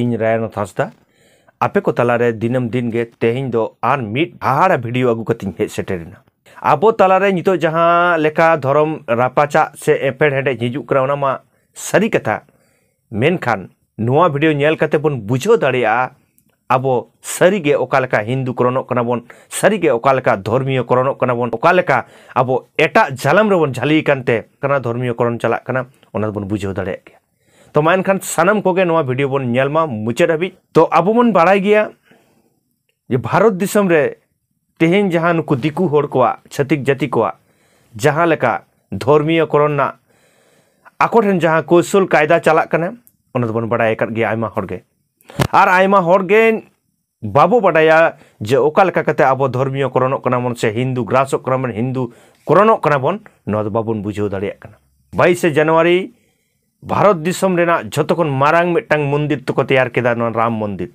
ᱤᱧ ᱨᱟᱭᱟᱱᱚᱛ ᱦᱟᱸᱥᱫᱟ ᱟᱯᱮ ᱠᱚ ᱛᱟᱞᱟᱨᱮ ᱫᱤᱱᱟᱹᱢ ᱫᱤᱱ ᱜᱮ ᱛᱮᱦᱮᱧ ᱫᱚ ᱟᱨ ᱢᱤᱫ ᱦᱟᱦᱟᱲᱟ ᱵᱷᱤᱰᱤᱭᱳ ᱟᱹᱜᱩ ᱠᱟᱛᱮᱧ ᱦᱮᱡ ᱥᱮᱴᱮᱨᱮᱱᱟ ᱟᱵᱚ ᱛᱟᱞᱟᱨᱮ ᱱᱤᱛᱚᱜ ᱡᱟᱦᱟᱸ ᱞᱮᱠᱟ ᱫᱷᱚᱨᱚᱢ ᱨᱟᱯᱟᱪᱟᱜ ᱥᱮ ᱮᱯᱮᱲ ᱦᱮᱰᱮᱡ ᱦᱤᱡᱩᱜ ᱠᱟᱱᱟ ᱚᱱᱟ ᱢᱟ ᱥᱟᱹᱨᱤ ᱠᱟᱛᱷᱟ ᱢᱮᱱᱠᱷᱟᱱ ᱱᱚᱣᱟ ᱵᱷᱤᱰᱤᱭᱳ ᱧᱮᱞ ᱠᱟᱛᱮ ᱵᱚᱱ ᱵᱩᱡᱷᱟᱹᱣ ᱫᱟᱲᱮᱭᱟᱜᱼᱟ ᱟᱵᱚ ᱥᱟᱹᱨᱤᱜᱮ ᱚᱠᱟ ᱞᱮᱠᱟ ᱦᱤᱱᱫᱩ ᱠᱚᱨᱚᱱᱚᱜ ᱠᱟᱱᱟ ᱵᱚᱱ ᱥᱟᱹᱨᱤᱜᱮ ᱚᱠᱟ ᱞᱮᱠᱟ ᱫᱷᱚᱨᱢᱤᱭᱚ ᱠᱚᱨᱚᱱᱚᱜ ᱠᱟᱱᱟ ᱵᱚᱱ ᱚᱠᱟ ᱞᱮᱠᱟ ᱟᱵᱚ ᱮᱴᱟᱜ ᱡᱟᱞᱟᱢ ᱨᱮᱵᱚᱱ ᱡᱷᱟᱹᱞᱤ ᱟᱠᱟᱱ ᱛᱮ ᱠᱟᱱᱟ ᱫᱷᱚᱨᱢᱤᱭᱚ ᱠᱚᱨᱚᱱ ᱪᱟᱞᱟᱜ ᱠᱟᱱᱟ ᱚᱱᱟ ᱫᱚᱵᱚᱱ ᱵᱩᱡᱷᱟᱹᱣ ᱫᱟᱲᱮᱭᱟᱜ ᱜᱮᱭᱟ ᱛᱚ ᱢᱟ ᱮᱱᱠᱷᱟᱱ ᱥᱟᱱᱟᱢ ᱠᱚᱜᱮ ᱱᱚᱣᱟ ᱵᱷᱤᱰᱤᱭᱳ ᱵᱚᱱ ᱧᱮᱞ ᱢᱟ ᱢᱩᱪᱟᱹᱫ ᱦᱟᱹᱵᱤᱡ ᱛᱚ ᱟᱵᱚ ᱵᱚᱱ ᱵᱟᱲᱟᱭ ᱜᱮᱭᱟ ᱡᱮ ᱵᱷᱟᱨᱚᱛ ᱫᱤᱥᱚᱢ ᱨᱮ ᱛᱮᱦᱮᱧ ᱡᱟᱦᱟᱸ ᱱᱩᱠᱩ ᱫᱤᱠᱩ ᱦᱚᱲ ᱠᱚᱣᱟᱜ ᱪᱷᱟᱹᱛᱤᱠ ᱡᱟᱹᱛᱤ ᱠᱚᱣᱟᱜ ᱡᱟᱦᱟᱸ ᱞᱮᱠᱟ ᱫᱷᱚᱨᱢᱤᱭᱚ ᱠᱚᱨᱚᱱ ᱨᱮᱱᱟᱜ ᱟᱠᱚ ᱴᱷᱮᱱ ᱡᱟᱦᱟᱸ ᱠᱳᱥᱚᱞ ᱠᱟᱭᱫᱟ ᱪᱟᱞᱟᱜ ᱠᱟᱱᱟ ᱚᱱᱟ ᱫᱚᱵᱚᱱ ᱵᱟᱲᱟᱭ ᱟᱠᱟᱫ ᱜᱮᱭᱟ ᱟᱭᱢᱟ ᱦᱚᱲ ᱜᱮ ᱟᱨ ᱟᱭᱢᱟ ᱦᱚᱲ ᱜᱮ ᱵᱟᱵᱚ ᱵᱟᱰᱟᱭᱟ ᱡᱮ ᱚᱠᱟ ᱞᱮᱠᱟ ᱠᱟᱛᱮ ᱟᱵᱚ ᱫᱷᱚᱨᱢᱤᱭᱚ ᱠᱚᱨᱚᱱᱚᱜ ᱠᱟᱱᱟ ᱵᱚᱱ ᱥᱮ ᱦᱤᱱᱫᱩ ᱜᱨᱟᱥᱚᱜ ᱠᱟᱱᱟ ᱵᱚᱱ ᱦᱤᱱᱫᱩ ᱠᱚᱨᱚᱱᱚᱜ ᱠᱟᱱᱟ ᱵᱚᱱ ᱱᱚᱣᱟ ᱫᱚ ᱵᱟᱵᱚᱱ ᱵᱩᱡᱷᱟᱹᱣ ᱫᱟᱲᱮᱭᱟᱜ ᱠᱟᱱᱟ ᱵᱟᱭᱤᱥᱮ ᱡᱟᱱᱩᱣᱟᱨᱤ ᱵᱷᱟᱨᱚᱛ ᱫᱤᱥᱚᱢ ᱨᱮᱱᱟᱜ ᱡᱷᱚᱛᱚ ᱠᱷᱚᱱ ᱢᱟᱨᱟᱝ ᱢᱤᱫᱴᱟᱝ ᱢᱚᱱᱫᱤᱨ ᱛᱮᱠᱚ ᱛᱮᱭᱟᱨ ᱠᱮᱫᱟ ᱱᱚᱣᱟ ᱨᱟᱢ ᱢᱚᱱᱫᱤᱨ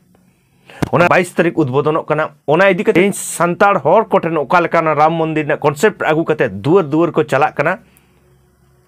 ᱚᱱᱟ ᱵᱟᱭᱤᱥ ᱛᱟᱹᱨᱤᱠᱷ ᱩᱫᱽᱵᱳᱫᱚᱱᱚᱜ ᱠᱟᱱᱟ ᱚᱱᱟ ᱤᱫᱤ ᱠᱟᱛᱮ ᱥᱟᱱᱛᱟᱲ ᱦᱚᱲ ᱠᱚᱴᱷᱮᱱ ᱚᱠᱟ ᱞᱮᱠᱟ ᱨᱟᱢ ᱢᱚᱱᱫᱤᱨ ᱨᱮᱱᱟᱜ ᱠᱚᱱᱥᱮᱯᱴ ᱟᱹᱜᱩ ᱠᱟᱛᱮ ᱫᱩᱣᱟᱹᱨ ᱫᱩᱣᱟᱹᱨ ᱠᱚ ᱪᱟᱞᱟᱜ ᱠᱟᱱᱟ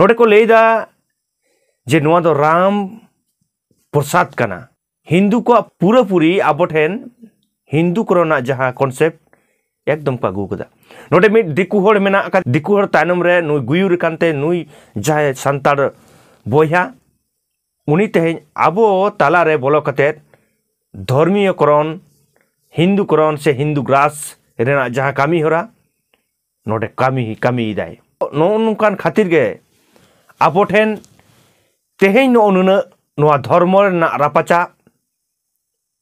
ᱱᱚᱰᱮ ᱠᱚ ᱞᱟᱹᱭᱫᱟ ᱡᱮ ᱱᱚᱣᱟ ᱫᱚ ᱨᱟᱢ ᱯᱨᱚᱥᱟᱫ ᱠᱟᱱᱟ ᱦᱤᱱᱫᱩ ᱠᱚᱣᱟᱜ ᱯᱩᱨᱟᱹᱯᱩᱨᱤ ᱟᱵᱚ ᱴᱷᱮᱱ ᱦᱤᱱᱫᱩ ᱠᱚᱨᱮᱱᱟᱜ ᱡᱟᱦᱟᱸ ᱠᱚᱱᱥᱮᱯᱴ ᱮᱠᱫᱚᱢ ᱠᱚ ᱟᱹᱜᱩ ᱠᱟᱫᱟ ᱱᱚᱰᱮ ᱢᱤᱫ ᱫᱤᱠᱩ ᱦᱚᱲ ᱢᱮᱱᱟᱜ ᱟᱠᱟᱫ ᱫᱤᱠᱩ ᱦᱚᱲ ᱛᱟᱭᱱᱚᱢ ᱨᱮ ᱱᱩᱭ ᱜᱩᱭᱩᱨ ᱟᱠᱟᱱᱛᱮ ᱱᱩᱭ ᱡᱟᱦᱟᱸᱭ ᱥᱟᱱᱛᱟᱲ ᱵᱚᱭᱦᱟ ᱩᱱᱤ ᱛᱮᱦᱮᱧ ᱟᱵᱚ ᱛᱟᱞᱟᱨᱮ ᱵᱚᱞᱚ ᱠᱟᱛᱮᱫ ᱫᱷᱚᱨᱢᱤᱭᱚᱠᱚᱨᱚᱱ ᱦᱤᱱᱫᱩᱠᱚᱨᱚᱱ ᱥᱮ ᱦᱤᱱᱫᱩ ᱜᱨᱟᱥ ᱨᱮᱱᱟᱜ ᱡᱟᱦᱟᱸ ᱠᱟᱹᱢᱤ ᱦᱚᱨᱟ ᱱᱚᱰᱮ ᱠᱟᱹᱢᱤ ᱠᱟᱹᱢᱤᱭᱮᱫᱟᱭ ᱱᱚᱜᱼᱚ ᱱᱚᱝᱠᱟᱱ ᱠᱷᱟᱹᱛᱤᱨ ᱜᱮ ᱟᱵᱚ ᱴᱷᱮᱱ ᱛᱮᱦᱮᱧ ᱱᱚᱜᱼᱚ ᱱᱩᱱᱟᱹᱜ ᱱᱚᱣᱟ ᱫᱷᱚᱨᱢᱚ ᱨᱮᱱᱟᱜ ᱨᱟᱯᱟᱪᱟᱜ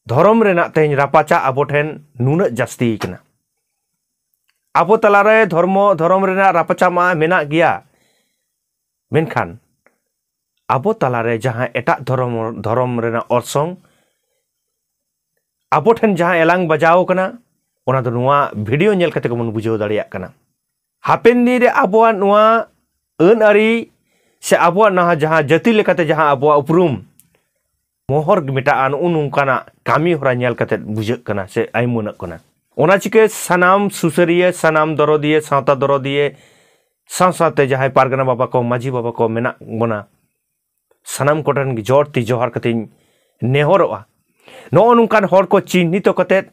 ᱫᱷᱚᱨᱚᱢ ᱨᱮᱱᱟᱜ ᱛᱮᱦᱮᱧ ᱨᱟᱯᱟᱪᱟᱜ ᱟᱵᱚ ᱴᱷᱮᱱ ᱱᱩᱱᱟᱹᱜ ᱡᱟᱹᱥᱛᱤ ᱠᱟᱱᱟ ᱟᱵᱚ ᱛᱟᱞᱟᱨᱮ ᱫᱷᱚᱨᱢᱚ ᱫᱷᱚᱨᱚᱢ ᱨᱮᱱᱟᱜ ᱨᱟᱯᱟᱪᱟᱜ ᱢᱟ ᱢᱮᱱᱟᱜ ᱜᱮᱭᱟ ᱢᱮᱱᱠᱷᱟᱱ ᱟᱵᱚ ᱛᱟᱞᱟᱨᱮ ᱡᱟᱦᱟᱸ ᱮᱴᱟᱜ ᱫᱷᱚᱨᱚᱢ ᱫᱷᱚᱨᱚᱢ ᱨᱮᱱᱟᱜ ᱚᱨᱥᱚᱝ ᱟᱵᱚ ᱴᱷᱮᱱ ᱡᱟᱦᱟᱸ ᱮᱞᱟᱝ ᱵᱟᱡᱟᱣ ᱠᱟᱱᱟ ᱚᱱᱟ ᱫᱚ ᱱᱚᱣᱟ ᱵᱷᱤᱰᱤᱭᱳ ᱧᱮᱞ ᱠᱟᱛᱮ ᱜᱮᱵᱚᱱ ᱵᱩᱡᱷᱟᱹᱣ ᱫᱟᱲᱮᱭᱟᱜ ᱠᱟᱱᱟ ᱦᱟᱯᱮᱱ ᱫᱤᱱ ᱨᱮ ᱟᱵᱚᱣᱟᱜ ᱱᱚᱣᱟ ᱟᱹᱱ ᱟᱹᱨᱤ ᱥᱮ ᱟᱵᱚᱣᱟᱜ ᱱᱟᱦᱟᱜ ᱡᱟᱦᱟᱸ ᱡᱟᱹᱛᱤ ᱞᱮᱠᱟᱛᱮ ᱡᱟᱦᱟᱸ ᱟᱵᱚᱣᱟᱜ ᱩᱯᱨᱩᱢ ᱢᱚᱦᱚᱨ ᱢᱮᱴᱟᱜᱼᱟ ᱱᱚᱜᱼᱚ ᱱᱚᱝᱠᱟᱱᱟᱜ ᱠᱟᱹᱢᱤ ᱦᱚᱨᱟ ᱧᱮᱞ ᱠᱟᱛᱮ ᱵᱩᱡᱷᱟᱹᱜ ᱠᱟᱱᱟ ᱥᱮ ᱟᱭᱢᱟᱹᱱᱚᱜ ᱠᱟᱱᱟ ᱚᱱᱟ ᱪᱤᱠᱟᱹ ᱥᱟᱱᱟᱢ ᱥᱩᱥᱟᱹᱨᱤᱭᱟᱹ ᱥᱟᱱᱟᱢ ᱫᱚᱨᱚᱫᱤᱭᱟᱹ ᱥᱟᱶᱛᱟ ᱫᱚᱨᱚᱫᱤᱭᱟᱹ ᱥᱟᱶ ᱥᱟᱶᱛᱮ ᱡᱟᱦᱟᱸᱭ ᱯᱟᱨᱜᱟᱱᱟ ᱵᱟᱵᱟ ᱠᱚ ᱢᱟᱹᱡᱷᱤ ᱵᱟᱵᱟ ᱠᱚ ᱢᱮᱱᱟᱜ ᱵᱚᱱᱟ ᱥᱟᱱᱟᱢ ᱠᱚᱴᱷᱮᱱ ᱡᱚᱨ ᱛᱤ ᱡᱚᱦᱟᱨ ᱠᱟᱛᱮᱧ ᱱᱮᱦᱚᱨᱚᱜᱼᱟ ᱱᱚᱜᱼᱚ ᱱᱚᱝᱠᱟᱱ ᱦᱚᱲ ᱠᱚ ᱪᱤᱦᱱᱤᱛᱚ ᱠᱟᱛᱮᱫ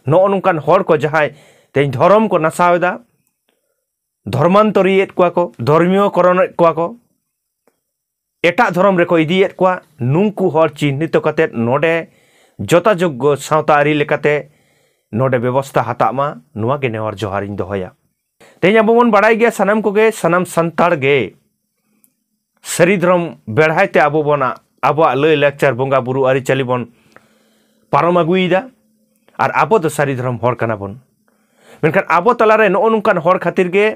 ᱱᱚᱜᱼᱚ ᱱᱚᱝᱠᱟᱱ ᱦᱚᱲ ᱠᱚ ᱡᱟᱦᱟᱸᱭ ᱛᱮᱦᱮᱧ ᱫᱷᱚᱨᱚᱢ ᱠᱚ ᱱᱟᱥᱟᱣ ᱮᱫᱟ ᱫᱷᱚᱨᱢᱟᱱᱛᱚᱨᱤᱭᱮᱫ ᱠᱚᱣᱟ ᱠᱚ ᱫᱷᱚᱨᱢᱤᱭᱚ ᱠᱚᱨᱚᱱᱮᱫ ᱠᱚᱣᱟ ᱠᱚ ᱮᱴᱟᱜ ᱫᱷᱚᱨᱚᱢ ᱨᱮᱠᱚ ᱤᱫᱤᱭᱮᱫ ᱠᱚᱣᱟ ᱱᱩᱝᱠᱩ ᱦᱚᱲ ᱪᱤᱦᱱᱤᱛᱚ ᱠᱟᱛᱮᱫ ᱱᱚᱰᱮ ᱡᱚᱛᱟᱡᱳᱜᱽᱜᱚ ᱥᱟᱶᱛᱟ ᱟᱹᱨᱤ ᱞᱮᱠᱟᱛᱮ ᱱᱚᱰᱮ ᱵᱮᱵᱚᱥᱛᱷᱟ ᱦᱟᱛᱟᱜ ᱢᱟ ᱱᱚᱣᱟᱜᱮ ᱱᱮᱦᱚᱨ ᱡᱚᱦᱟᱨᱤᱧ ᱫᱚᱦᱚᱭᱟ ᱛᱮᱦᱮᱧ ᱟᱵᱚ ᱵᱚᱱ ᱵᱟᱲᱟᱭ ᱜᱮᱭᱟ ᱥᱟᱱᱟᱢ ᱠᱚᱜᱮ ᱥᱟᱱᱟᱢ ᱥᱟᱱᱛᱟᱲ ᱜᱮ ᱥᱟᱹᱨᱤ ᱫᱷᱚᱨᱚᱢ ᱵᱮᱲᱦᱟᱭ ᱛᱮ ᱟᱵᱚ ᱵᱚᱱᱟᱜ ᱟᱵᱚᱣᱟᱜ ᱞᱟᱹᱭ ᱞᱟᱠᱪᱟᱨ ᱵᱚᱸᱜᱟ ᱵᱩᱨᱩ ᱟᱹᱨᱤᱪᱟᱹᱞᱤ ᱵᱚᱱ ᱯᱟᱨᱚᱢ ᱟᱹᱜᱩᱭᱮᱫᱟ ᱟᱨ ᱟᱵᱚ ᱫᱚ ᱥᱟᱹᱨᱤ ᱫᱷᱚᱨᱚᱢ ᱦᱚᱲ ᱠᱟᱱᱟ ᱵᱚᱱ ᱢᱮᱱᱠᱷᱟᱱ ᱟᱵᱚ ᱛᱟᱞᱟᱨᱮ ᱱᱚᱜᱼᱚ ᱱᱚᱝᱠᱟᱱ ᱦᱚᱲ ᱠᱷᱟᱹᱛᱤᱨ ᱜᱮ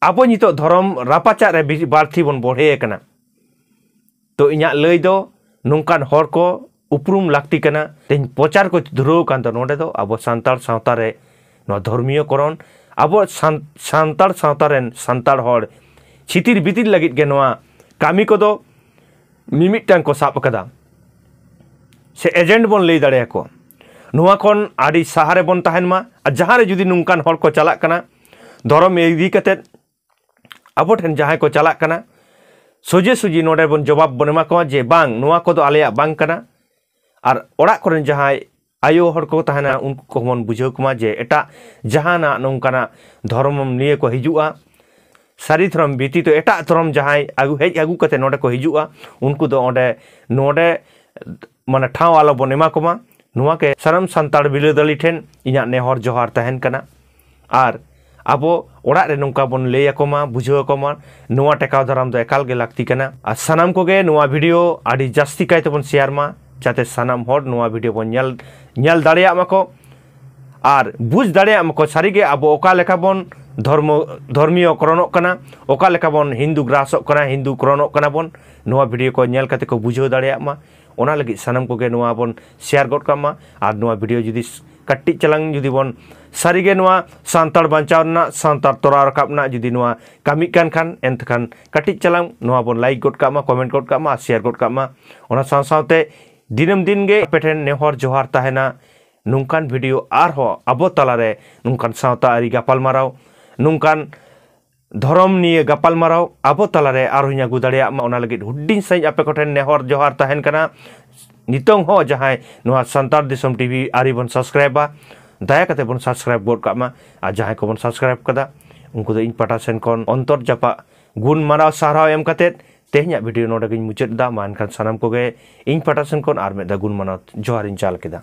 ᱟᱵᱚ ᱱᱤᱛᱚᱜ ᱫᱷᱚᱨᱚᱢ ᱨᱟᱯᱟᱪᱟᱜ ᱨᱮ ᱵᱟᱹᱲᱛᱤ ᱵᱚᱱ ᱵᱚᱲᱦᱮ ᱟᱠᱟᱱᱟ ᱛᱚ ᱤᱧᱟᱹᱜ ᱞᱟᱹᱭ ᱫᱚ ᱱᱚᱝᱠᱟᱱ ᱦᱚᱲ ᱠᱚ ᱩᱯᱨᱩᱢ ᱞᱟᱹᱠᱛᱤ ᱠᱟᱱᱟ ᱛᱮᱦᱮᱧ ᱯᱨᱚᱪᱟᱨ ᱠᱚ ᱫᱷᱩᱨᱟᱹᱣ ᱟᱠᱟᱱ ᱫᱚ ᱱᱚᱰᱮ ᱫᱚ ᱟᱵᱚ ᱥᱟᱱᱛᱟᱲ ᱥᱟᱶᱛᱟ ᱨᱮ ᱱᱚᱣᱟ ᱫᱷᱚᱨᱢᱤᱭᱚ ᱠᱚᱨᱚᱱ ᱟᱵᱚ ᱥᱟᱱᱛᱟᱲ ᱥᱟᱶᱛᱟ ᱨᱮᱱ ᱥᱟᱱᱛᱟᱲ ᱦᱚᱲ ᱪᱷᱤᱛᱤᱨ ᱵᱤᱛᱤᱨ ᱞᱟᱹᱜᱤᱫ ᱜᱮ ᱱᱚᱣᱟ ᱠᱟᱹᱢᱤ ᱠᱚᱫᱚ ᱢᱤᱢᱤᱫᱴᱟᱝ ᱠᱚ ᱥᱟᱵ ᱟᱠᱟᱫᱟ ᱥᱮ ᱮᱡᱮᱱᱴ ᱵᱚᱱ ᱞᱟᱹᱭ ᱫᱟᱲᱮᱭᱟᱠᱚᱣᱟ ᱱᱚᱣᱟ ᱠᱷᱚᱱ ᱟᱹᱰᱤ ᱥᱟᱦᱟᱨᱮ ᱵᱚᱱ ᱛᱟᱦᱮᱱ ᱢᱟ ᱟᱨ ᱡᱟᱦᱟᱸᱨᱮ ᱡᱩᱫᱤ ᱱᱚᱝᱠᱟᱱ ᱦᱚᱲ ᱠᱚ ᱪᱟᱞᱟᱜ ᱠᱟᱱᱟ ᱫᱷᱚᱨᱚᱢ ᱤᱫᱤ ᱠᱟᱛᱮᱫ ᱟᱵᱚ ᱴᱷᱮᱱ ᱡᱟᱦᱟᱸᱭ ᱠᱚ ᱪᱟᱞᱟᱜ ᱠᱟᱱᱟ ᱥᱚᱡᱷᱮ ᱥᱚᱡᱷᱮ ᱱᱚᱰᱮ ᱵᱚᱱ ᱡᱚᱵᱟᱵ ᱵᱚᱱ ᱮᱢᱟ ᱠᱚᱣᱟ ᱡᱮ ᱵᱟᱝ ᱱᱚᱣᱟ ᱠᱚᱫᱚ ᱟᱞᱮᱭᱟᱜ ᱵᱟᱝ ᱠᱟᱱᱟ ᱟᱨ ᱚᱲᱟᱜ ᱠᱚᱨᱮᱱ ᱡᱟᱦᱟᱸᱭ ᱟᱭᱳ ᱦᱚᱲ ᱠᱚ ᱛᱟᱦᱮᱱᱟ ᱩᱱᱠᱩ ᱠᱚᱦᱚᱸ ᱵᱚᱱ ᱵᱩᱡᱷᱟᱹᱣ ᱠᱚᱢᱟ ᱡᱮ ᱮᱴᱟᱜ ᱡᱟᱦᱟᱱᱟᱜ ᱱᱚᱝᱠᱟᱱᱟᱜ ᱫᱷᱚᱨᱚᱢ ᱱᱤᱭᱮ ᱠᱚ ᱦᱤᱡᱩᱜᱼᱟ ᱥᱟᱹᱨᱤ ᱫᱷᱚᱨᱚᱢ ᱵᱮᱛᱤᱛ ᱮᱴᱟᱜ ᱫᱷᱚᱨᱚᱢ ᱡᱟᱦᱟᱸᱭ ᱦᱮᱡ ᱟᱹᱜᱩ ᱠᱟᱛᱮ ᱱᱚᱰᱮ ᱠᱚ ᱦᱤᱡᱩᱜᱼᱟ ᱩᱱᱠᱩ ᱫᱚ ᱚᱸᱰᱮ ᱱᱚᱰᱮ ᱢᱟᱱᱮ ᱴᱷᱟᱶ ᱟᱞᱚ ᱵᱚᱱ ᱮᱢᱟ ᱠᱚᱢᱟ ᱱᱚᱣᱟ ᱜᱮ ᱥᱟᱱᱟᱢ ᱥᱟᱱᱛᱟᱲ ᱵᱤᱨᱟᱹᱫᱟᱹᱞᱤ ᱴᱷᱮᱱ ᱤᱧᱟᱹᱜ ᱱᱮᱦᱚᱨ ᱡᱚᱦᱟᱨ ᱛᱟᱦᱮᱱ ᱠᱟᱱᱟ ᱟᱨ ᱟᱵᱚ ᱚᱲᱟᱜ ᱨᱮ ᱱᱚᱝᱠᱟ ᱵᱚᱱ ᱞᱟᱹᱭ ᱟᱠᱚ ᱢᱟ ᱵᱩᱡᱷᱟᱹᱣ ᱟᱠᱚ ᱢᱟ ᱱᱚᱣᱟ ᱴᱮᱠᱟᱣ ᱫᱟᱨᱟᱢ ᱫᱚ ᱮᱠᱟᱞ ᱜᱮ ᱞᱟᱹᱠᱛᱤ ᱠᱟᱱᱟ ᱟᱨ ᱥᱟᱱᱟᱢ ᱠᱚᱜᱮ ᱱᱚᱣᱟ ᱵᱷᱤᱰᱤᱭᱳ ᱟᱹᱰᱤ ᱡᱟᱹᱥᱛᱤ ᱠᱟᱭ ᱛᱮᱵᱚᱱ ᱥᱮᱭᱟᱨ ᱢᱟ ᱡᱟᱛᱮ ᱥᱟᱱᱟᱢ ᱦᱚᱲ ᱱᱚᱣᱟ ᱵᱷᱤᱰᱤᱭᱳ ᱵᱚᱱ ᱧᱮᱞ ᱧᱮᱞ ᱫᱟᱲᱮᱭᱟᱜ ᱢᱟᱠᱚ ᱟᱨ ᱵᱩᱡᱽ ᱫᱟᱲᱮᱭᱟᱜ ᱢᱟᱠᱚ ᱥᱟᱹᱨᱤᱜᱮ ᱟᱵᱚ ᱚᱠᱟ ᱞᱮᱠᱟ ᱵᱚᱱ ᱫᱷᱚᱨᱢᱚ ᱫᱷᱚᱨᱢᱤᱭᱚ ᱠᱚᱨᱚᱱᱚᱜ ᱠᱟᱱᱟ ᱚᱠᱟ ᱞᱮᱠᱟ ᱵᱚᱱ ᱦᱤᱱᱫᱩ ᱜᱨᱟᱥᱚᱜ ᱠᱟᱱᱟ ᱦᱤᱱᱫᱩ ᱠᱚᱨᱚᱱᱚᱜ ᱠᱟᱱᱟ ᱵᱚᱱ ᱱᱚᱣᱟ ᱵᱷᱤᱰᱭᱳ ᱠᱚ ᱧᱮᱞ ᱠᱟᱛᱮ ᱠᱚ ᱵᱩᱡᱷᱟᱹᱣ ᱫᱟᱲᱮᱭᱟᱜ ᱢᱟ ᱚᱱᱟ ᱞᱟᱹᱜᱤᱫ ᱥᱟᱱᱟᱢ ᱠᱚᱜᱮ ᱱᱚᱣᱟ ᱵᱚᱱ ᱥᱮᱭᱟᱨ ᱜᱚᱫ ᱠᱟᱜ ᱢᱟ ᱟᱨ ᱱᱚᱣᱟ ᱵᱷᱤᱰᱭᱳ ᱡᱩᱫᱤ ᱠᱟᱹᱴᱤᱡ ᱪᱟᱞᱟᱝ ᱡᱩᱫᱤ ᱵᱚᱱ ᱥᱟᱹᱨᱤᱜᱮ ᱱᱚᱣᱟ ᱥᱟᱱᱛᱟᱲ ᱵᱟᱧᱪᱟᱣ ᱨᱮᱱᱟᱜ ᱥᱟᱱᱛᱟᱲ ᱛᱚᱨᱟᱣ ᱨᱟᱠᱟᱵ ᱨᱮᱱᱟᱜ ᱡᱩᱫᱤ ᱱᱚᱣᱟ ᱠᱟᱹᱢᱤ ᱠᱟᱱ ᱠᱷᱟᱱ ᱮᱱᱠᱷᱟᱱ ᱠᱟᱹᱴᱤᱡ ᱪᱟᱞᱟᱝ ᱱᱚᱣᱟ ᱵᱚᱱ ᱞᱟᱭᱤᱠ ᱜᱚᱫ ᱠᱟᱜ ᱢᱟ ᱠᱚᱢᱮᱱᱴ ᱜᱚᱫ ᱠᱟᱜ ᱢᱟ ᱟᱨ ᱥᱮᱭᱟᱨ ᱜᱚᱫ ᱠᱟᱜ ᱢᱟ ᱚᱱᱟ ᱥᱟᱶ ᱥᱟᱶᱛᱮ ᱫᱤᱱᱟᱹᱢ ᱫᱤᱱ ᱜᱮ ᱟᱯᱮ ᱴᱷᱮᱱ ᱱᱮᱦᱚᱨ ᱡᱚᱦᱟᱨ ᱛᱟᱦᱮᱱᱟ ᱱᱚᱝᱠᱟᱱ ᱵᱷᱤᱰᱤᱭᱳ ᱟᱨᱦᱚᱸ ᱟᱵᱚ ᱛᱟᱞᱟᱨᱮ ᱱᱚᱝᱠᱟᱱ ᱥᱟᱶᱛᱟ ᱟᱹᱨᱤ ᱜᱟᱯᱟᱞᱢᱟᱨᱟᱣ ᱱᱚᱝᱠᱟᱱ ᱫᱷᱚᱨᱚᱢ ᱱᱤᱭᱟᱹ ᱜᱟᱯᱟᱞᱢᱟᱨᱟᱣ ᱟᱵᱚ ᱛᱟᱞᱟᱨᱮ ᱟᱨᱦᱚᱸᱧ ᱟᱹᱜᱩ ᱫᱟᱲᱮᱭᱟᱜ ᱢᱟ ᱚᱱᱟ ᱞᱟᱹᱜᱤᱫ ᱦᱩᱰᱤᱧ ᱥᱟᱺᱦᱤᱡ ᱟᱯᱮ ᱠᱚᱴᱷᱮᱱ ᱱᱮᱦᱚᱨ ᱡᱚᱦᱟᱨ ᱛᱟᱦᱮᱱ ᱠᱟᱱᱟ ᱱᱤᱛᱚᱝ ᱦᱚᱸ ᱡᱟᱦᱟᱸᱭ ᱱᱚᱣᱟ ᱥᱟᱱᱛᱟᱲ ᱫᱤᱥᱚᱢ ᱴᱤᱵᱷᱤ ᱟᱹᱨᱤ ᱵᱚᱱ ᱥᱟᱵᱥᱠᱨᱟᱭᱤᱵᱟ ᱫᱟᱭᱟ ᱠᱟᱛᱮ ᱵᱚᱱ ᱥᱟᱵᱥᱠᱨᱟᱭᱤᱵ ᱜᱚᱫ ᱠᱟᱜ ᱢᱟ ᱟᱨ ᱡᱟᱦᱟᱸᱭ ᱠᱚᱵᱚᱱ ᱥᱟᱵᱥᱠᱨᱟᱭᱤᱵ ᱠᱟᱫᱟ ᱩᱱᱠᱩ ᱫᱚ ᱤᱧ ᱯᱟᱴᱟ ᱥᱮᱱ ᱠᱷᱚᱱ ᱚᱱᱛᱚᱨ ᱡᱟᱯᱟᱜ ᱜᱩᱱ ᱢᱟᱱᱟᱣ ᱥᱟᱨᱦᱟᱣ ᱮᱢ ᱠᱟᱛᱮ ᱛᱮᱦᱮᱧᱟᱜ ᱵᱷᱤᱰᱤᱭᱳ ᱱᱚᱰᱮ ᱜᱤᱧ ᱢᱩᱪᱟᱹᱫ ᱮᱫᱟ ᱢᱟ ᱮᱱᱠᱷᱟᱱ ᱥᱟᱱᱟᱢ ᱠᱚᱜᱮ ᱤᱧ ᱯᱟᱴᱟ ᱥᱮᱱ ᱠᱷᱚᱱ ᱟᱨ ᱢᱤᱫ ᱫᱷᱟᱣ ᱜᱩᱱ ᱢᱟᱱᱟᱣ ᱡᱚᱦᱟᱨᱤᱧ ᱪᱟᱞ ᱠᱮᱫᱟ